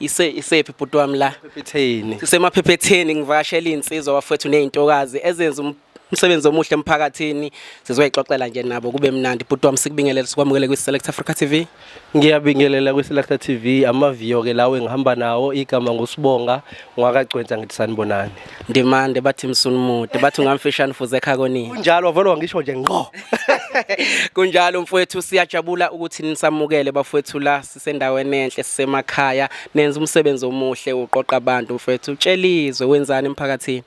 ise isephi bhuti wami la Phetheni. sisemaphephetheni ngivakashela iy'nsizwa bafowethu ney'ntokazi ezenza um- umsebenzi omuhle emphakathini sizoyixoxela nje nabo kube mnandi bhuti wami sikubingelele sikwamukele kwi-select africa tv Ngiyabingelela kwiSelakta TV amaviyo ke lawo engihamba nawo igama ngusibonga ngwakagcwensa ngithi sanibonani. ndimande bathi msunumude bathi ungamfishane fuze ekha konini Kunjalo wavele wangisho nje ngqo. kunjalo mfowethu siyajabula ukuthi nisamukele bafowethu la sisendaweni enhle sisemakhaya nenza umsebenzi omuhle uqoqa abantu mfethu utshelizwe wenzani emphakathini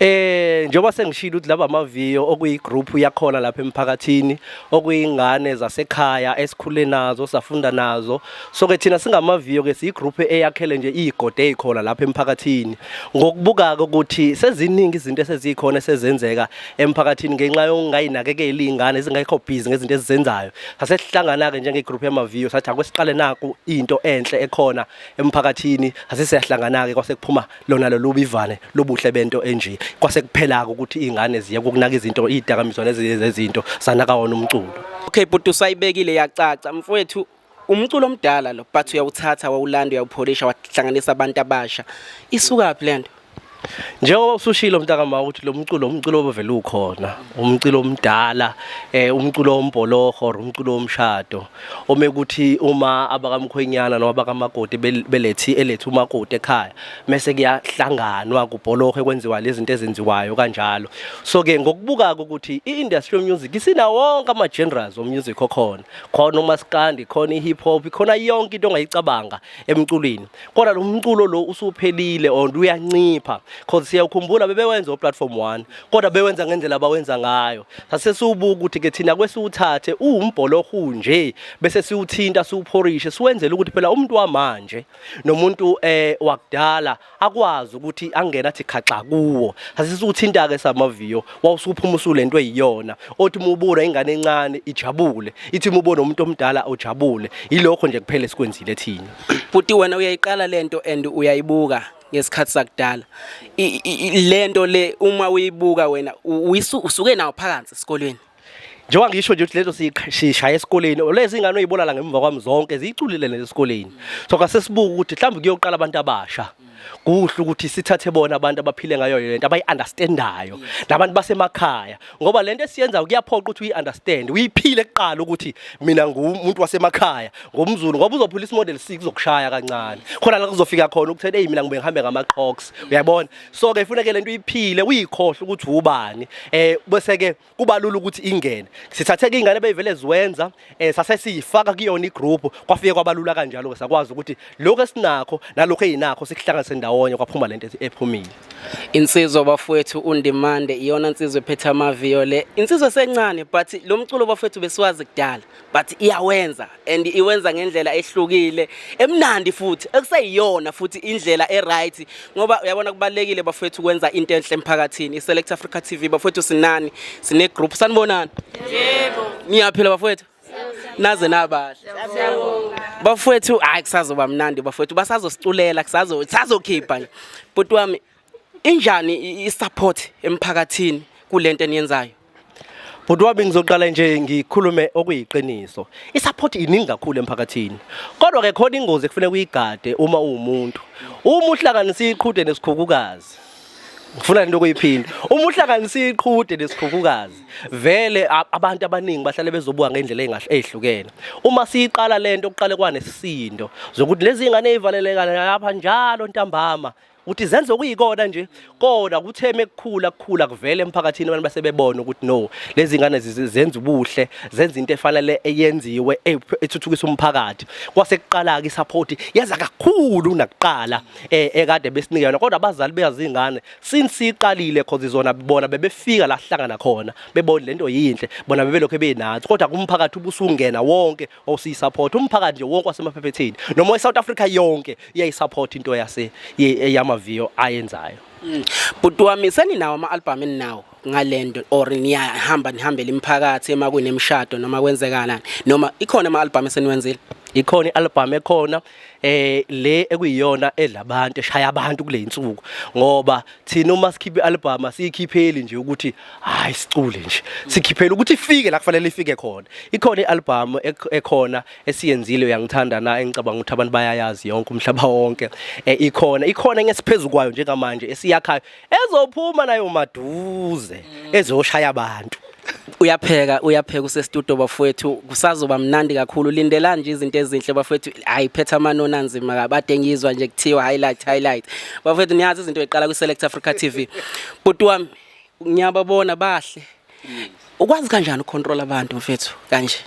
Eh njengoba sengishilo ukuthi laba amaviyo okuyigroup yakhona lapha emphakathini okuyingane zasekhaya esikhule nazo safunda nazo so ke thina singamaviyo ke siyigroup eyakhele nje igode ezikhona lapha emphakathini ngokubuka ukuthi seziningi izinto esezikhona esezenzeka emphakathini ngenxa yokungayinakekeli iy'ngane ezingekho busy ngezinto ezizenzayo sasesihlangana-ke njengegroup yamaviyo sathi ake siqale naku into enhle ekhona emphakathini sase siyahlangana-ke kwase kuphuma lona lolubi ivane lobuhle bento enje kwase kuphela-ke ukuthi iy'ngane ziyeke ukunaka izinto iy'dakamizwa nezinye zezinto sanaka wona umculo okay bhuti usayibekile yacaca mfowethu umculo omdala lo but uyawuthatha wawulanda uyawupholisha wahlanganisa abantu abasha isukaphi lento njengoba usushilo mntaka ma ukuthi lo mculo umculo obevele ukhona umculo omdala eh umculo ombholoho umculo omshado ome ukuthi uma abakamkhwenyana noma abakamakoti belethi elethi umakoti ekhaya mase kuyahlanganwa kubholoho kwenziwa lezi zinto ezenziwayo kanjalo so ke ngokubuka ukuthi iindustry music isina wonke ama genres of music okhona khona umaskandi khona ihip hop khona yonke into ongayicabanga emculweni kodwa lo mculo lo usuphelile or uyancipha because siyakhumbula bebewenza oplatform 1 kodwa bewenza ngendlela abawenza ngayo sasesiwubuka ukuthi ke thina kwesiwuthathe uwumbholohu nje bese siwuthinta siwuphorishe siwenzele ukuthi phela umuntu wamanje nomuntu eh wakudala akwazi ukuthi angena athi khaxa kuwo asise uthinta ke samaviyo wawusuphuma usulento eyiyona othi mubona ingane encane ijabule ithi mubona umuntu omdala ojabule yilokho nje kuphela esikwenzile thina futhi wena uyayiqala lento and uyayibuka ngesikhathi sakudala lento le uma uyibuka wena usuke nawo phakathi esikolweni njengoba ngisho nje ukuthi lezo sishaye esikoleni lezi ingane oyibona la ngemva kwami zonke ziyiculile lezi esikoleni so kase sibuka ukuthi mhlawumbe kuyoqala abantu abasha kuhle ukuthi sithathe bona abantu abaphile ngayo lento abayi-understandayo nabantu basemakhaya ngoba lento esiyenza kuyaphoqa ukuthi uyi-understand uyiphile kuqala ukuthi mina ngumuntu wasemakhaya ngomzulu ngoba uzophula isimodel six uzokushaya kancane khona la kuzofika khona ukuthi eyi mina ngibe ngihambe ngama-crocs uyabona so ke ifuneke lento iphile uyikhohle ukuthi ubani eh bese ke kubalula ukuthi ingene sithathe ke ingane beyivele ziwenza eh sase siyifaka kuyona igroup kwafike kwabalula kanjalo ke sakwazi ukuthi lokho esinakho nalokho ezinakho sikuhlanganise ndawonye kwaphuma lento ephumile insizwa bafowethu undimande iyona insizwa ephethe amaviyo le insizwa sencane but lo mculo bafowethu besiwazi kudala but iyawenza and iwenza ngendlela ehlukile emnandi futhi ekuseyiyona futhi indlela eright ngoba uyabona kubalekile bafethu ukwenza into enhle emphakathini iselect africa tv bafethu sinani sine group sanibonani yebo niyaphila bafethu naze nabahle bafethu hayi kusazoba mnandi bafethu basazosiculela kusazo sazokhipha nje bhuti wami injani i-support emphakathini kulento eniyenzayo Bhuti wami ngizoqala nje ngikhulume okuyiqiniso. I-support iningi kakhulu emphakathini. Kodwa ke khona ingozi ekufanele uyigade uma uwumuntu. Uma uhlanganisa iqhude nesikhukukazi. Ngifuna into okuyiphinda. Uma uhlanganisa iqhude nesikhukukazi, vele abantu abaningi bahlale bezobuka ngendlela engahle ezihlukene. Uma siyiqala lento kuqale kwanesisindo zokuthi lezi ngane ezivalelekana lapha njalo ntambama ukuthi zenze okuyikona nje kodwa kutheme kukhula kukhula kuvele emphakathini abantu basebebona ukuthi no lezi ngane zenza ubuhle zenza into efanele eyenziwe e, ethuthukisa umphakathi kwase kuqala ke support yeza kakhulu kunakuqala e, ekade besinikelwa kodwa abazali beyazi ingane since iqalile cause izona bona bebefika la hlangana khona bebona lento yinhle bona bebelokho benathi kodwa kumphakathi ubusungena wonke or siyisupport umphakathi nje wonke wasemaphephetheni noma eSouth Africa yonke iyayisupport into yase yamaviyo ayenzayo mm. bhuti wami seninawo ama-albhamu eninawo ngalento or niyahamba nihambele imphakathi ema kunemshado noma kwenzekalani noma ikhona ama-albhamu eseniwenzile ikhona i-albhamu ekhona eh le ekuyiyona edla abantu eshaya abantu kule insuku ngoba thina uma sikhipha ialbum asiyikhipheli nje ukuthi hayi sicule nje sikhiphela ukuthi ifike la kufanele ifike khona ikhona ialbum ekhona esiyenzile uyangithanda na engicabanga ukuthi abantu bayayazi yonke umhlaba wonke eh ikhona ikhona ngesiphezulu kwayo njengamanje esiyakhayo ezophuma nayo maduze mm. ezoshaya abantu uyapheka uyapheka usestudio bafowethu kusazoba mnandi kakhulu lindelani nje izinto ezinhle bafowethu hayi phetha amanoni anzima kabade ngizwa nje kuthiwa highlight highlight bafowethu niyazi izinto eziqala ku Select Africa TV bhuti wami ngiyababona bahle ukwazi kanjani ucontrol abantu mfethu kanje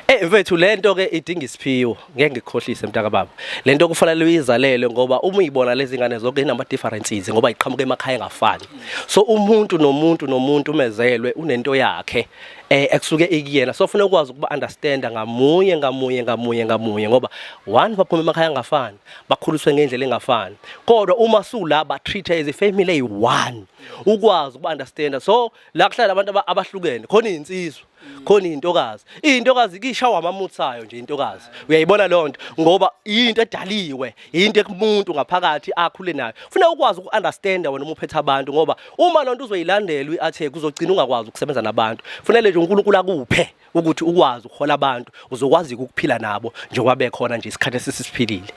Eh mfethu lento ke idinga isiphiwo ngeke ngikhohlise mntaka baba lento kufanele uyizalele ngoba uma uyibona lezi ngane zonke inama differences ngoba iqhamuka emakhaya engafani so umuntu nomuntu nomuntu umezelwe unento yakhe eh ekusuke ikuyena so ufuna ukwazi ukuba understand ngamunye ngamunye ngamunye ngamunye ngoba one baphuma emakhaya angafani bakhuliswe ngendlela engafani kodwa uma sula ba treat as a family one ukwazi uku-understanda so la kuhlala abantu abahlukene khona iyinsizwa khona iyintokazi iyintokazi kishawa amamuthi sayo nje intokazi uyayibona leyo nto ngoba yinto edaliwe yinto ekumuntu ngaphakathi akhule nayo kufuneka ukwazi uku-understanda wena uma uphethe abantu ngoba uma loo nto uzoyilandela uyi-athe kuzogcina ungakwazi ukusebenza nabantu kufanele nje unkulunkulu akuphe ukuthi ukwazi ukuhola abantu uzokwazi ukuphila nabo njengoba bekhona nje isikhathi esisiphilile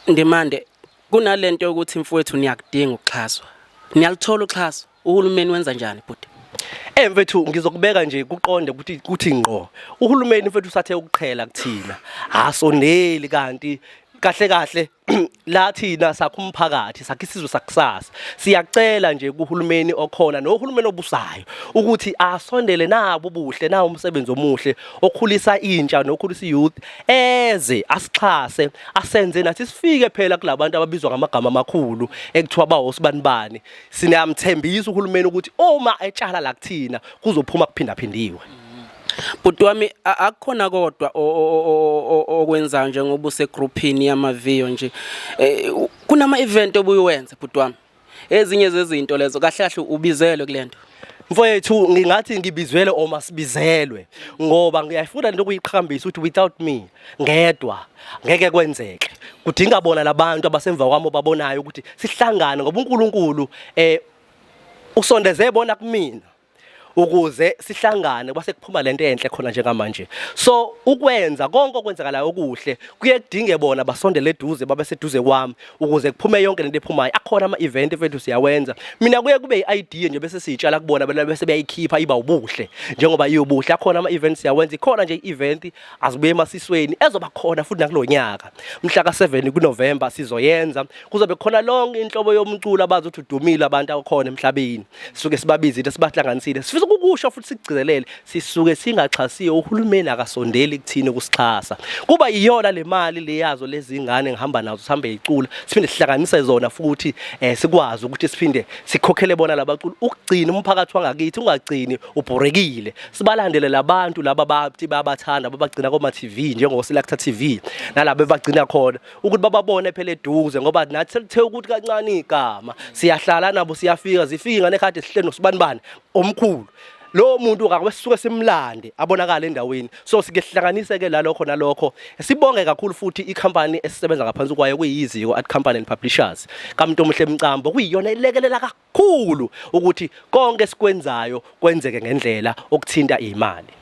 ndimande Kunalento yokuthi mfowethu niyakudinga ukuxhaswa. Niyalithola uxhaso. Uhulumeni wenza njani bhuti? Eh mfethu ngizokubeka nje kuqonde ukuthi kuthi ngqo. Uhulumeni mfethu usathe ukuqhela kuthina. Asondeli kanti kahle kahle la thina sakho umphakathi sakhe isizwe sakusasa siyacela nje kuhulumeni okhona nohulumeni obusayo ukuthi asondele nabo buhle na umsebenzi omuhle okhulisa intsha nokhulisa youth eze asixhase asenze nathi sifike phela kulabantu ababizwa ngamagama amakhulu ekuthiwa bawosibanibani sinamthembisa uhulumeni ukuthi uma etshala la kuthina kuzophuma kuphindaphindiwe Bhuti wami akukhona kodwa okwenza njengoba use groupini yamaviyo nje eh, kunama event obuyiwenza bhuti wami ezinye zezinto lezo kahle kahle ubizelwe kulento mfowethu ngingathi ngibizwele oma sibizelwe ngoba ngiyafuna nento kuyiqhakambisa ukuthi without me ngedwa ngeke kwenzeke kudinga bona labantu abasemva kwami obabonayo ukuthi sihlangane ngoba uNkulunkulu eh usondeze bona kumina ukuze sihlangane kwase kuphuma lento enhle khona njengamanje so ukwenza konke okwenzakalayo okuhle kuye kudinge bona basondele eduze babe seduze kwami ukuze kuphume yonke lento ephumayo akhona ama event mfethu siyawenza mina kuye kube i-idea nje bese siyitshala kubona bena bese beyayikhipha iba ubuhle njengoba iyobuhle akhona ama events siyawenza ikhona nje i-event azibuye emasisweni ezoba khona futhi nakulonyaka mhla ka7 kuNovember sizoyenza kuzobe khona lonke inhlobo yomculo abazothi udumile abantu akhona emhlabeni sisuke sibabizile sibahlanganisile sifisa ukukusho futhi sikugcizelele sisuke singaxhasiwe uhulumeni akasondeli kuthini ukusixhasa kuba iyona le mali leyazo lezingane ngihamba nazo sihambe yicula siphinde sihlanganise zona futhi eh, sikwazi ukuthi siphinde sikhokhele bona labaculi ukugcina umphakathi wangakithi ungagcini ubhorekile sibalandele labantu laba bathi babathanda babagcina koma TV njengo Selector TV nalabo bagcina khona ukuthi bababone phela eduze ngoba nathi selithe ukuthi kancane igama siyahlala nabo siyafika zifika ingane kade sihleli nosibanibani omkhulu lo muntu ngakho sisuke simlande abonakala endaweni so sike sihlanganise ke lalokho nalokho sibonge kakhulu futhi icompany esisebenza ngaphansi kwayo kuyiziko at company and publishers kamuntu omuhle emcambo kuyiyona elekelela kakhulu Khulu ukuthi konke esikwenzayo kwenzeke ngendlela okuthinta imali.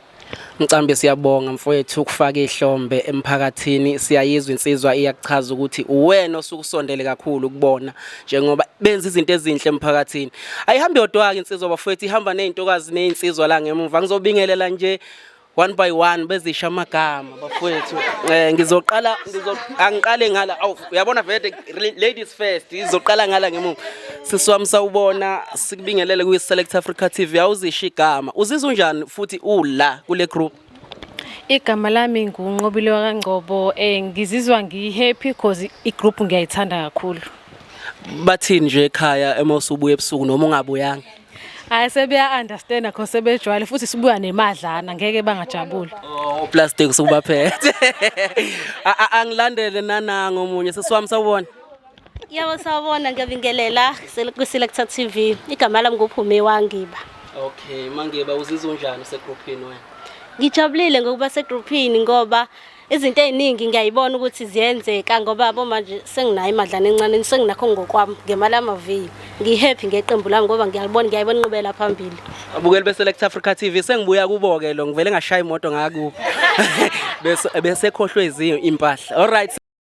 Mcambi siyabonga mfowethu ukufaka ihlombe emphakathini siyayizwa insizwa iyakuchaza ukuthi uwena osukusondele kakhulu kubona njengoba benza izinto ezinhle emphakathini ayihambi yodwa ke insizwa bafowethu ihamba nezintokazi nezinsizwa la ngemuva ngizobingelela nje one by one bezisha amagama bafowethu eh ngizoqala angiqale ngala uyabona vele ladies first izoqala ngala ngemuva siswami sawubona sikubingelele kwi Select Africa TV awuzisha igama uzizwa unjani futhi ula kule group Igama lami nguNqobile kaNgcobo eh ngizizwa ngihappy because igroup ngiyayithanda kakhulu Bathini nje ekhaya uma usubuya ebusuku noma ungabuyanga hayi sebeya-understanda cause sebejwayele futhi sibuya nemadlana ngeke bangajabuli uplastic sukubaphethe angilandele nananga omunye sesiwami sawubona yabo sawubona ngiyabingelela kwi-selector t v igama lami nguphume wangiba okay mangiba uzizwa unjani usegruphini wena ngijabulile ngokuba segruphini ngoba izinto eziningi ngiyayibona ukuthi ziyenzeka ngoba yabo manje senginayo imadlana encane senginakho ngokwami ngemali yamaviyo ngihappy ngeqembu lami ngoba ngiyalibona ngiyayibona inqubela phambili abukeli beselect africa tv sengibuya kubo-ke lo ngivele ngashaya imoto ngakubo besekhohlwe ezinye impahla all right